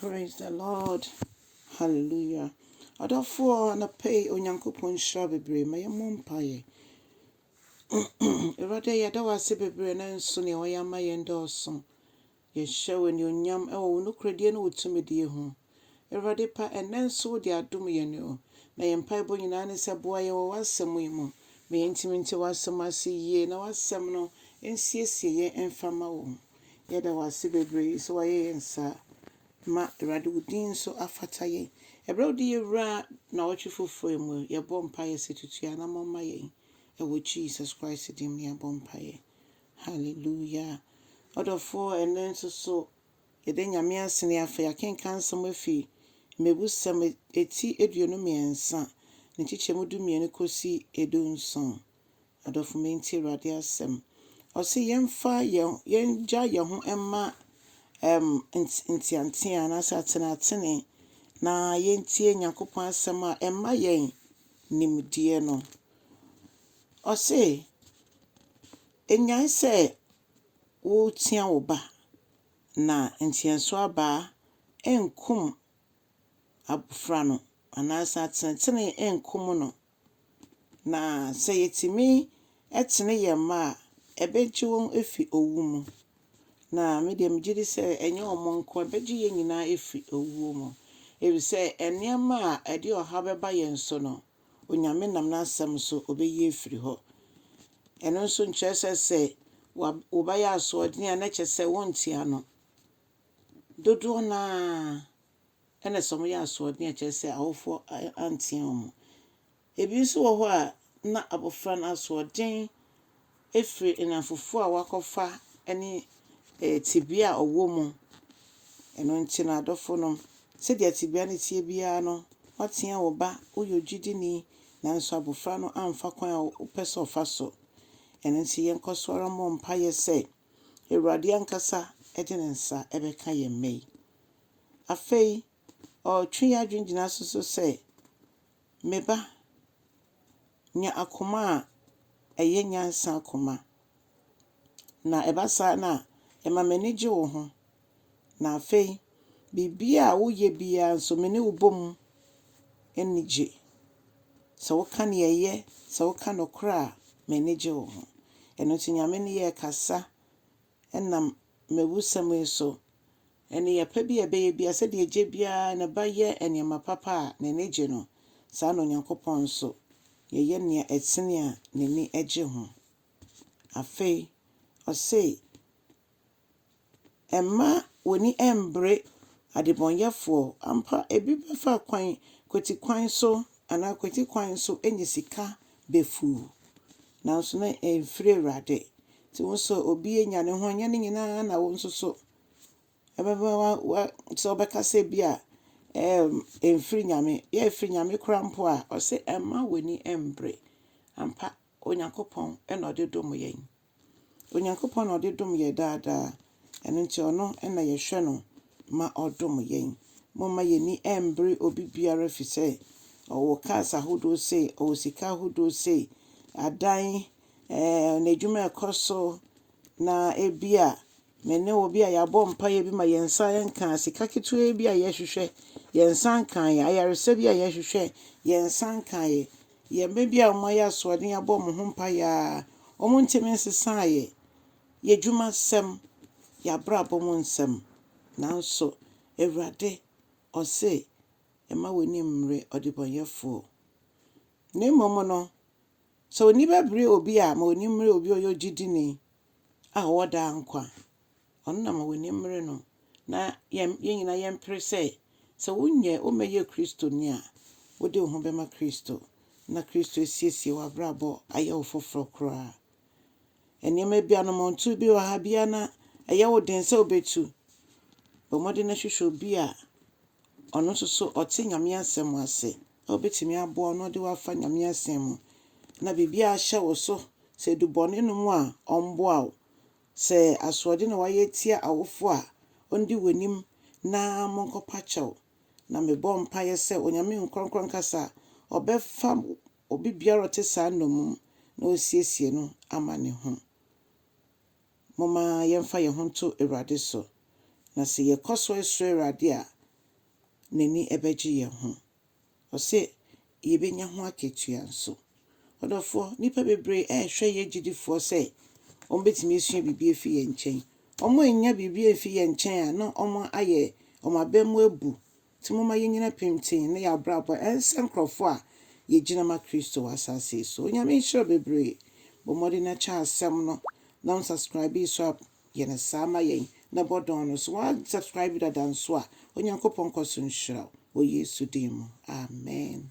Praise the Lord. Hallelujah. Adɔfoɔ anɔpa yi Onyankopɔn nhyira bebree ma yɛmmɔ mpaeɛ. Awurade yɛda wo ase bebree nanso nea wɔyɛ ama yɛn dɔɔso. Yɛhyɛ wo anuonyam wɔ wo nokorɛdie ne wo tumidie ho. Awurade pa ɛnnɛ nso wode adom yɛn o. Na yɛn mpaebɔ nyinaa ne sɛ boa yɛn wɔ w'asɛm yi mu. Ma yɛntumi nte w'asɛm ase yie na w'asɛm no nsiesie yɛn mfa ma wo. Yɛda wo ase bebree sɛ woayɛ yɛn saa. Ma Awurade wo din nso afata yɛn. Ɛberɛ a wode yɛwura nnawɔtwe foforɔ yi mu, yɛbɔ mpaeɛ sɛ tutu anamɔ ma yɛn. Ɛwɔ Jesus Christ din mu na yɛabɔ mpaeɛ. Hallelujah. Ɔdɔfoɔ, ɛnnɛ nso so yɛda Nyame ase na yɛafa yɛakenkan nsɛm afi Mmebusɛm eti aduonu mmiɛnsa, ne nkyekyɛmu du mmienu kɔsi du nson. Adɔfo me ntie Awurade asɛm. Ɔse yɛmfa yɛn yɛngya yɛn ho mma ɛm nteantea anaasɛ atenatene na yɛntie Nyankopɔn asɛm a ɛma yɛn nimdeɛ no. Ɔse enyae sɛ wotia wo ba na nteɛso abaa ɛnkum abofra no anaasɛ atenatene ɛnkum no. Na sɛ yɛtumi tene yɛn mma a, ɛbɛgye wɔn afi owu mu. Na me deɛ megye di sɛ ɛnyɛ wɔn nko, ɛbɛgye yɛn nyinaa afi owuo mu. Ɛfiri sɛ nneɛma a ɛde ɔhaw bɛba yɛn so no, Onyame nam n'asɛm so ɔbɛyi afiri hɔ. Ɛno nso nkyerɛ sɛ sɛ wa wo ba yɛ asoɔden a na kyerɛ sɛ wonte ano. Dodoɔ no ara ɛna sɛ wɔyɛ asoɔden a ɛkyerɛ sɛ awofoɔ antea wɔn. Ebi nso wɔ hɔ a na abɔfra no asoɔden firi nnamfofoɔ a wakɔfa ne tebea a ɔwɔ mu. Ɛno nti no adɔfonom, sɛdeɛ tebea no teɛ biara no, woatea wo ba, woyɛ ogyidini nanso abɔfra no amfa kwan a wopɛ sɛ ɔfa so. Ɛno nti yɛnkɔ so ara mmɔ mpaeɛ sɛ Awurade ankasa de ne nsa bɛka yɛn mma yi. Afei ɔretwe yɛn adwene gyina so nso sɛ, Me ba, nya akoma a ɛyɛ nyansa koma, na ɛba saa no a, ɛma m'ani gye wo ho, na afei biribiara a woyɛ biara nso, me ne wo bɔ mu ani gye. Sɛ woka nea ɛyɛ, sɛ woka nokorɛ a, m'ani gye wo ho. Ɛno nti, Nyame ne yɛn rekasa Ɛnam mmebusɛm yi so, nneyɛe pa bi a ɛbɛyɛ biara, sɛdeɛ agya biara a ne ba yɛ nneɛma papa a n'ani gye no, saa ara na Onyankopɔn nso, yɛyɛ nea ɛtene a n'ani gye ho. Afei, ɔse, Mma w'ani mmbere adebɔneyɛfoɔ, ampa ebi bɛfa kwan, kwatikwan so, anaa kwati kwan so anya sika bɛfuo, nanso na ɛmfiri Awurade, Nti wo so obi anya ne ho ɛnyɛ ne nyinaa na wo nso so ɛbɛbɛ wa wa sɛ ɔbɛka sɛ bi a ɛɛm ɛmfiri nyame yɛ ɛfiri nyame kora mpo a ɔsɛ ɛmma w'ani ɛmbre ampa onyankopɔn ɛna ɔde dom yɛn onyankopɔn na ɔde dom yɛ daadaa Ɛno nti ɔno na yɛhwɛ no ma ɔdom yɛn. Momma yɛn ani mmbere obi biara firi sɛ ɔwɔ cars ahodoɔ sei, ɔwɔ sika ahodoɔ sei, adan, ɛɛ n'adwuma ɛkɔ so na ebi a me ne wo bi a yɛabɔ mpaeɛ bi ma yɛn nsa nka sika ketewa bi a yɛhwehwɛ yɛn nsa nkaeɛ, ayaresa bi a yɛhwehwɛ yɛn nsa nkaeɛ, yɛn mma bi a wɔayɛ asoɔden abɔ wɔn ho mpaeɛ a wɔntumi nsesaeɛ. Y'adwuma nsɛm, y'abrabɔ mu nsɛm, nanso Awurade ɔse, Mma w'ani mmere ɔdebɔnyɛfoɔ. Na mmom no, sɛ w'ani bɛbere obi a, ma w'ani mmere obi a ɔyɛ ogyidini a ɔwɔ daa nkwa. Ɔno na ma w'ani mmere no. Na yɛn nyinaa yɛmpere sɛ, sɛ wonyɛ, wommɛyɛ Kristoni a, wode wo ho bɛma Kristo, na Kristo asiesie w'abrabɔ ayɛ wo foforɔ koraa. Nneɛma bianom a ɔnto bi wɔ ha, biara na ɛyɛ wo den sɛ wobɛtu. Bɔ mmɔden na hwehwɛ obi a ɔno nso so ɔte Nyame asɛm ase a wobɛtumi aboa wo na ɔde wo afa Nyame asɛm mu. Na biribiara a ahyɛ wo so, sɛ ɛdu bɔne no mu a, ɔmmoa wo. Sɛ asoɔden na woayɛ atia awofo a, ɔndi w'anim na monkɔpa kyɛw. Na mebɔ mpaeɛ sɛ Onyame Nkorɔkorɔ Nkasa a, ɔbɛfa Obi biara a ɔte saa nnommum na osiesie no ama ne ho. Momma yɛmfa yɛn ho nto Awurade so, na sɛ yɛkɔ so srɛ Awurade a, n'ani bɛgye yɛn ho. Ɔse yebenya ho akatua nso. Ɔdɔfoɔ, nnipa bebree rehwɛ yɛn agyidifoɔ sɛ wɔbɛtumi asua biribi afi yɛn nkyɛn. Wɔannya biribi amfi yɛn nkyɛn a na wɔayɛ wɔn abam abu Ntsi momma yennyina pintsinn na yɛabrabɔ ɛnsɛ nkorɔfo a yegyina ma Kristo wɔ asaase yi so. Onyame nhyira wo bebree. Bɔ mmɔden na kyɛ asɛm no na wo nsubscribe yi so a yɛ no saa ma yɛn na bɔ dɔn no. So wa subscribe dada nso a? Onyankopɔn nkɔ so nhyira wo wɔ Yesu din mu. Amen.